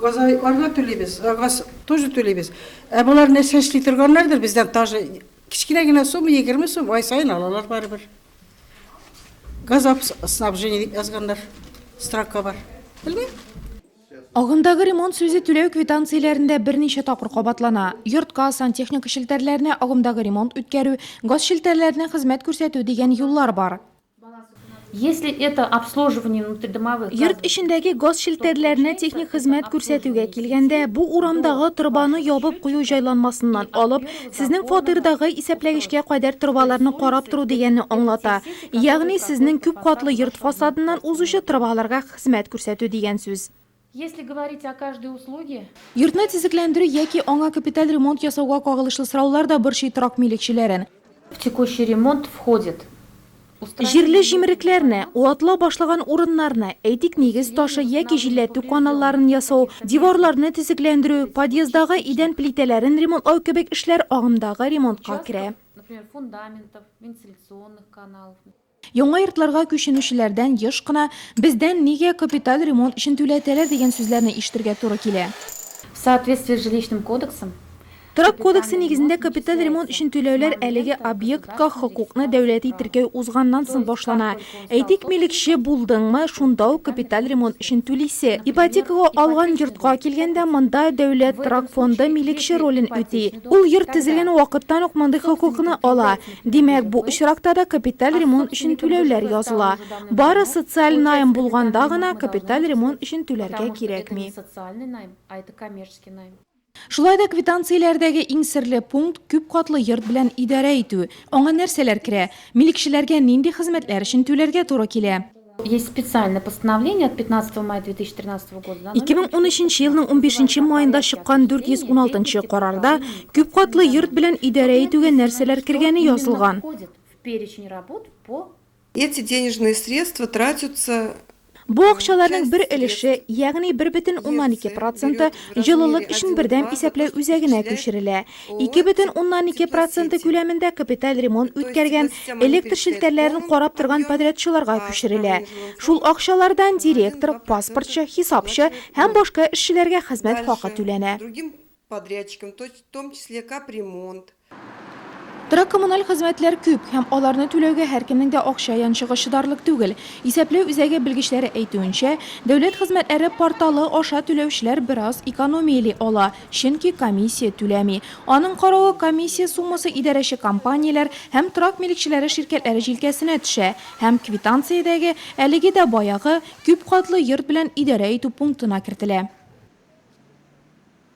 Газайларга түлибез, газ тоже түлибез. Ә болар нәрсә эшли торганнардыр бездән даже кечкенә генә сумма 20 сум ай сайын алалар барыбер. Газ снабжение дип язганнар. Строка бар. Белмим. Агымдагы ремонт сүзе түләү квитанцияләрендә берничә тапкыр кабатлана. Йортка, сантехника челтәрләренә агымдагы ремонт үткәрү, газ челтәрләренә хезмәт күрсәтү дигән юллар бар. Йорт эчендәге газ челтәрләренә техник хезмәт күрсәтүгә килгәндә, бу урамдагы торбаны ябып кую җайланмасыннан алып, сезнең фатирдагы исәпләгечкә кадәр торбаларны карап тору дигәнне аңлата. Ягъни сезнең күп катлы йорт фасадыннан узучы торбаларга Хезмәт күрсәтү дигән сүз. Если говорить о каждой услуге. Йортны тизекләндерү яки аңа капиталь ремонт ясауга кагылышлы сораулар да борчый торак милекчеләрен. В текущий ремонт входит. Җирле җимерекләрне, ватлау башлаган урыннарны, әйтик, нигез ташы яки җилләтү каналларын ясау, диварларны тизекләндерү, подъездагы идән плитәләрен ремонтлау кебек эшләр агымдагы ремонтка керә. Яңа йортларга күченүчеләрдән еш кына, Бездән нигә капиталь ремонт өчен түләтәләр, дигән сүзләрне ишетергә туры килә. В соответствии с Жилищным кодексом, Торак кодексы нигезендә капиталь ремонт өчен түләүләр әлеге объектка хокукны дәүләти теркәү узганнан соң башлана. Әйтик, милекче булдыңмы, шунда ук капиталь ремонт өчен түлисе. Ипотекага алган йортка килгәндә, монда Дәүләт торак фонды милекче ролен үти. Ул йорт төзелгән вакыттан ук мондый хокукны ала. Димәк, бу очракта да капиталь ремонт өчен түләүләр языла. Бары социаль найм булганда гына капиталь ремонт өчен түләргә кирәкми. Шулай да квитанцияләрдәге иң серле пункт, күп катлы йорт белән идарә итү. Аңа нәрсәләр керә? Милекчеләргә нинди хезмәтләр өчен түләргә туры килә? Есть специальное постановление от 15 мая 2013 года. 2013 елның 15 маенда чыккан 416 карарда күп катлы йорт белән идарә итүгә нәрсәләр кергәне язылган. Эти денежные средства тратятся Бу акчаларның бер өлеше, ягъни 1,2 проценты җылылык өчен бердәм исәпләү үзәгенә күчерелә. Ике бөтен уннан ике проценты күләмендә капиталь ремонт үткәргән, электр челтәрләрен карап торган подрядчыларга күчерелә. Шул акчалардан директор, паспортчы, хисапчы һәм башка эшчеләргә хезмәт хакы түләнә. Торак-коммуналь хезмәтләр күп һәм аларны түләүгә һәркемнең дә акча янчыгы чыдарлык түгел. Исәпләү үзәге белгечләре әйтүенчә, Дәүләт хезмәтләре порталы аша түләүчеләр бераз экономияли ала. чөнки комиссия түләми. Аның каравы, комиссия суммасы идарәче компанияләр һәм торак милекчеләре ширкәтләре җилкәсенә төшә һәм квитанциядәге, әлеге дә баягы, күпкатлы йорт белән идарә итү пунктына кертелә.